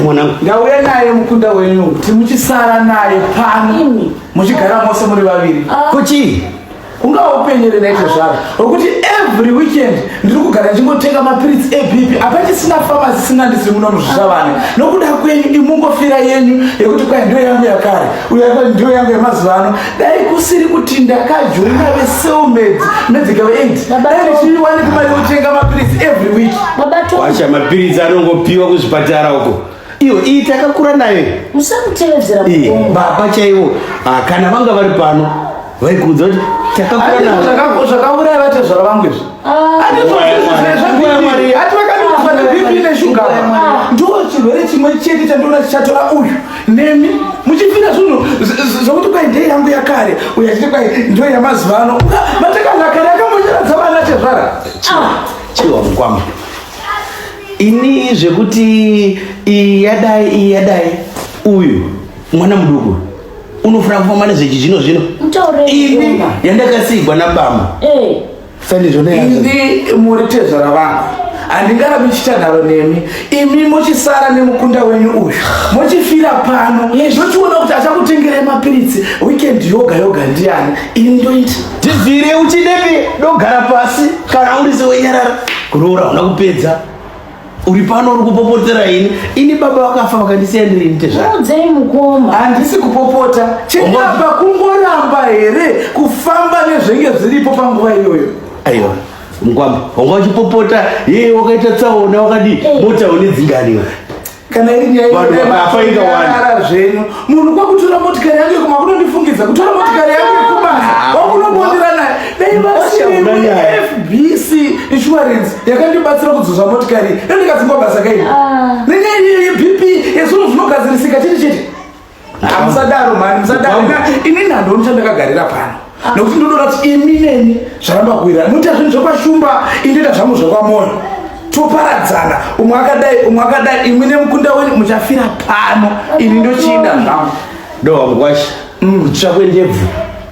mwanangu ndauya naye mukunda wenyu timuchisara naye pano muchigara mose muri vaviri ah. kuchii ungawa upenyere naizvo zvaro okuti every weekend ndiri kugara ndichingotenga mapiritsi ebp apachisina fama zisina ndisiri muno muzvishavane nokuda kwenyu imungofira yenyu yekuti kwai ndiyo yangu yakare uya ndiyo yangu yemazuva ano dai kusiri kuti ndakajoina veselmed medical aid dai ndichiiwaniki mari yokutenga mapiritsi every week wacha mapiritsi anongopiwa kuzvipatara uko iyo iyi takakura nayo iyi. musamutevedzera Iyi, mukomba baba chaivo ah, kana vanga vari pano vaikuudza kuti takakura nayo Zvaka- zvakauraya vatezvara vangu izvi Ah, Ati zvozvizvi zve- zve- Nguva ya Mwari. ati vakandiudzwa neBP neshuga Ah. ndo chirwere chimwe chete chandoona chichatora uyu nemi muchifira zvinhu z- z- zvokuti kwai ndei yangu yakare uyu achiti kwai ndo yamazuva ano matakazakare akambocheradza vana tezvara ah, chiwa mukwama ini zvekuti iyi yadai iyi yadai uyu mwana muduku unofana kufamba nezvechizvino zvino ini yandakasigwa nabama eh. sandizvoneindi muri tezvara vangu handingarabi chitandaro nemi imi mochisara nemukunda wenyu uyu mochifira pano ndochiona kuti achakutengerai mapiritsi weekend yoga yoga ndiani ini ndoita Tibvire uchidepi dogara pasi kana uri sewenyarara kuroora una kupedza uri pano uri kupopotera ini ini baba vakafa vakandisiya ndiri nite zvakudzei mukoma handisi kupopota chenapa kungoramba here kufamba nezvenge zviripo panguva iyoyo aiwa mkwamba wanga uchipopota yeye wakaita tsaona wakadii eh. mota une dzinganiwa kana iri nyaya zvenyu munhu kwakutora motikari yangu yekuma kunondifungidza kutora motikari yangu yekubasa ah, kwakunobondera naye dai vasirifbc insurance yakandibatsira kudzoza motikari ndandikadzingwa basa kaii ah. nenyaya iyoyo bp yezvinhu zvinogadzirisika chete chete hamusadaro mani musadaro ini nhando ndichandakagarira pano nokuti ndodora kuti imi neni zvaramba kuwira muita zvinhu zvekwashumba indoita zvangu zvekwamoyo toparadzana umwe akadai umwe akadai imwe nemukunda wenyu muchafira pano ini ndochiida zvangu doa mukwashi mm. kutsva kwendebvu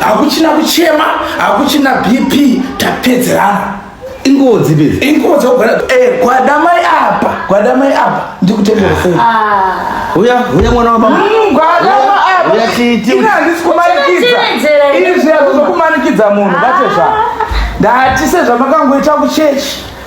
hakuchina kuchema hakuchina bp tapedzerana ingozi bezi ingozi ogara eh gwada mai apa gwada mai apa ndikutengera sei ah. uya uya mwana wa mama mm, gwada mai apa uya chiti ina handisi kumanikidza ini zviya kuzokumanikidza munhu ah. bate zva ndati sezvamakangoita kuchechi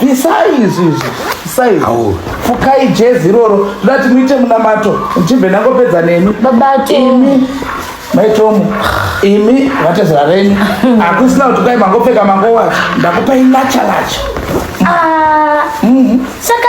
bvisai izvi izvi bvisai fukai jezi iroro ndati muite munamato ndichibve ndangopedza nemi babatimi maitomu imi vatezera venyu hakusina kuti kwai mangopfeka mangowacho ndakupai lachalacha ah, mm-hmm. saka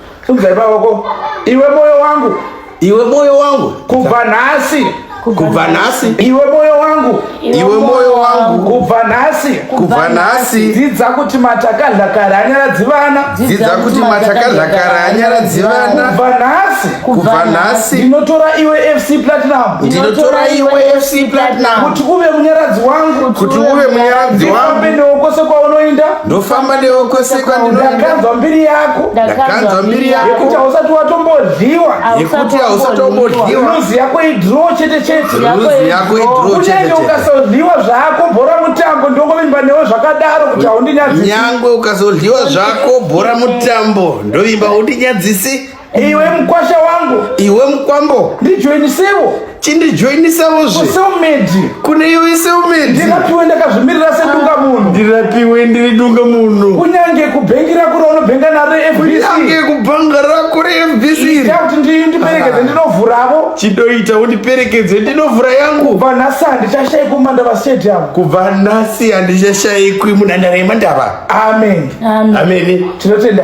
Unzai baba ko iwe moyo wangu iwe moyo wangu kubva nhasi kubva nhasi iwe moyo wangu iwe moyo wangu kubva nhasi kubva nhasi dzidza kuti matakadlakara anyaradzi vana dzidza kuti matakadlakara anyaradzi vana kubva nhasi kubva nhasi ndinotora iwe fc platinum ndinotora iwe fc platinum kuti uve munyaradzi wangu kuti uve munyaradzi wangu ndifambe newe kwose kwaunoinda ndofamba newe kwese kwandinoenda ndakanzwa mbiri yako ndakanzwa mbiri yako yekuti hausati watombodyiwa yekuti hausatombodyiwa ruzi yako idro chete chete ruzi yako idro chete chete kunyange ukasodyiwa zvako bhora mutambo ndongovimba newe zvakadaro kuti haundinyadzisi nyange ukasodyiwa zvako bhora mutambo ndovimba haundinyadzisi iwe mukwasha wangu iwe mukwambo ndijoinisewo chindijoinisewo zve seumedi kune iwe seumedi ndirapiwe ndakazvimirira sedunga munhu ndirapiwe ndiri dunga munhu kunyange kubhengi rako raunobhenga naro kunyange kubhanga rako refbc kuti ndiperekedze ndinovhuravo chidoita undiperekedze ndinovhura yangu kubva nhasi handichashayikwi mumandava stadium kubva nhasi handichashayikwi munhandare yemandava amen amen tinotenda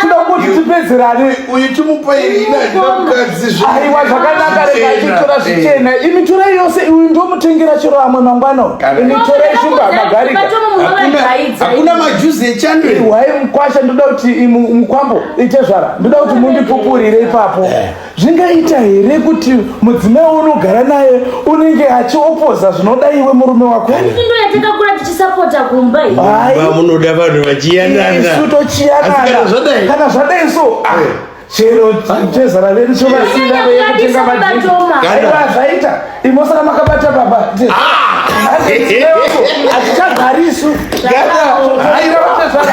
kuda kuti tipedzerane uyu timupairiaiwa zvakanaka rekachitora zvichena imi torai yose uyu ndomutengera chero amwe mangwana imi torai shumba magarikahakuna majuzi echanwai mukwasha ndoda kuti mukwambo itezvara ndoda kuti mundipupurire ipapo eh. zvingaita here kuti mudzimai unogara naye unenge achiopoza zvinoda iwe murume wako ndo yatakakura tichisapota kumba iyi Hayi. Mumba munoda vanhu vachiyanana isu Asi kana tochiyanana zvadai kana zvadai so ah, Eh. chero chezara vedu chovasina veye kutenga madrinki Kana- aiva zvaita imosara makabata baba atichagari isu Kana- haira vatezvara